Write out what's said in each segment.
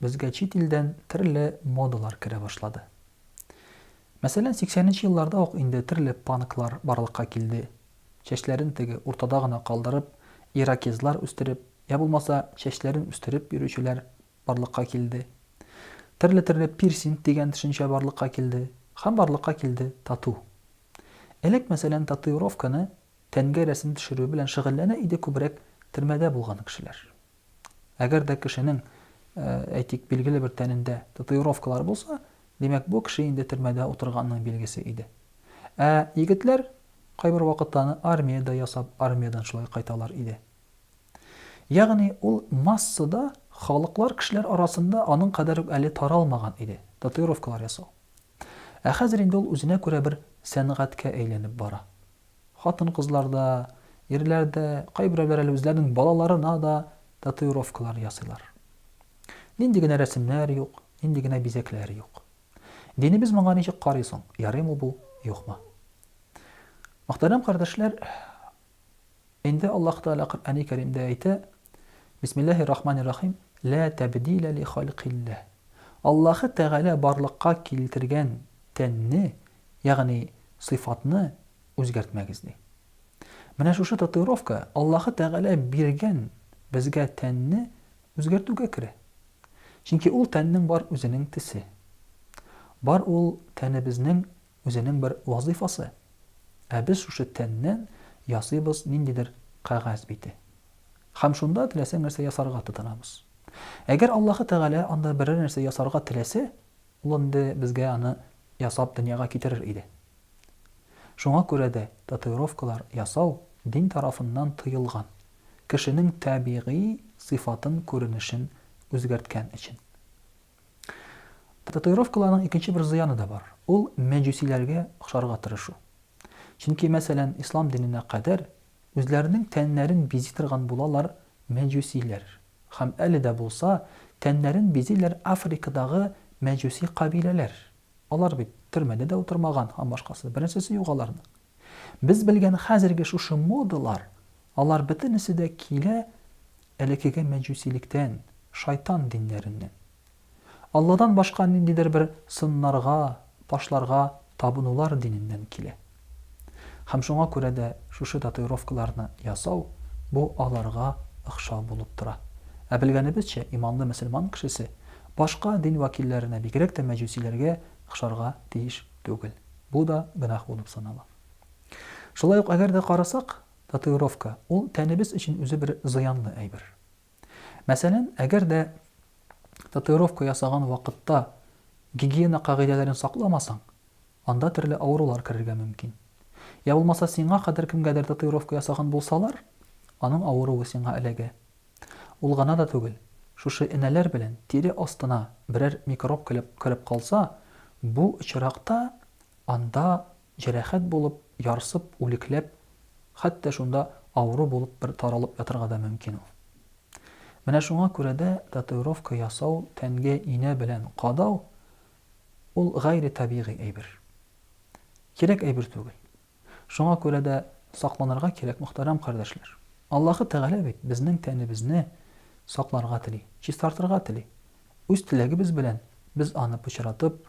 Безгә чит илдән төрле модалар керә башлады. Мәсәлән, сиксәненче елларда ук инде төрле панклар барлыкка килде. Чәчләрен теге уртада гына калдырып, ирокезлар үстереп, я булмаса, чәчләрен үстереп йөрүчеләр барлыкка килде. Төрле-төрле пирсинг дигән төшенчә барлыкка килде. Һәм барлыкка килде тату. Элек, мәсәлән, татуировканы, тәнгә рәсем төшерү белән шөгыльләнә иде күбрәк төрмәдә булган кешеләр. Әгәр дә кешенең, әйтик, билгеле бер тәнендә татуировкалар булса, димәк, бу кеше инде төрмәдә утырганның билгесе иде. Ә егетләр кайбер вакытта аны армиядә ясап, армиядән шулай кайталар иде. Ягъни ул массада халыклар, кешеләр арасында аның кадәр үк әле таралмаган иде, татуировкалар ясау. Ә хәзер инде ул үзенә күрә бер сәнгатькә әйләнеп бара. Хатын-кызлар да, ирләр дә, кайберәүләр әле үзләренең балаларына да татуировкалар ясыйлар. Нинди генә рәсемнәр юк, нинди генә бизәкләр юк. Динебез моңа ничек карый соң, ярыймы бу, юкмы? Мөхтәрәм кардәшләр, инде Аллаһ Тәгалә Коръәни Кәримдә әйтә, Бисмиллаһи рахмани рахим, Лә тәбдилә ли халькилләһ. Аллаһы Тәгалә барлыкка килтергән тәнне Ягъни сыйфатны үзгәртмәгез, ди. Менә шушы татуировка Аллаһы Тәгалә биргән безгә тәнне үзгәртүгә керә. Чөнки ул тәннең бар үзенең тесе. Бар ул тәнебезнең үзенең бер вазыйфасы. Ә без шушы тәннән ясыйбыз ниндидер кәгазь бите. Хәм шунда теләсә нәрсә ясарга тотынабыз. Әгәр Аллаһы Тәгалә анда берәр нәрсә ясарга теләсә, Ул инде безгә аны ясап дөньяга китерер иде. Шуңа күрә дә татуировкалар ясау дин тарафыннан тыелган, кешенең табигый сыйфатын күренешен үзгәрткән өчен. Татуировкаларның икенче бер зыяны да бар, ул мәҗүсиләргә охшарга тырышу. Чөнки, мәсәлән, ислам диненә кадәр Үзләренең тәннәрен бизи торган булалар мәҗүсиләр. Һәм әле дә булса, тәннәрен бизиләр Африкадагы мәҗүси кабиләләр. Алар бит төрмәдә дә утырмаган һәм башкасы. Беренчесе юк аларның. Без белгән хәзерге шушы модалар, алар бөтенесе дә килә элекеге мәҗүсилектән, шайтан диннәреннән. Алладан башка ниндидер бер сыннарга, ташларга табынулар диненнән килә. Һәм шуңа күрә дә шушы татуировкаларны ясау, бу аларга охшау булып тора. Ә белгәнебезчә, иманлы мөселман кешесе башка дин вәкилләренә, бигрәк тә мәҗүсиләргә охшарга тиеш түгел. Бу да гөнаһ булып санала. Шулай ук әгәр дә карасак, татуировка, ул тәнебез өчен үзе бер зыянлы әйбер. Мәсәлән, әгәр дә татуировка ясаган вакытта гигиена кагыйдәләрен сакламасаң, анда төрле авырулар керергә мөмкин. Йә булмаса сиңа кадәр кемгәдер татуировка ясаган булсалар, аның авыруы сиңа эләгә. Ул гына да түгел, шушы энәләр белән тире астына берәр микроб кереп калса, бу очракта анда Җәрәхәт булып, ярсып, үлекләп, хәтта шунда авыру булып бер таралып ятырга да мөмкин ул. Менә шуңа күрә дә татуировка ясау, тәнгә инә белән кадау, ул гайре табигый әйбер. Кирәк әйбер түгел. Шуңа күрә дә сакланырга кирәк, мөхтәрәм кардәшләр. Аллаһы Тәгалә бит безнең тәнебезне сакларга тели, чистартырга тели. Үз теләгебез белән без аны пычратып,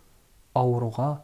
авыруга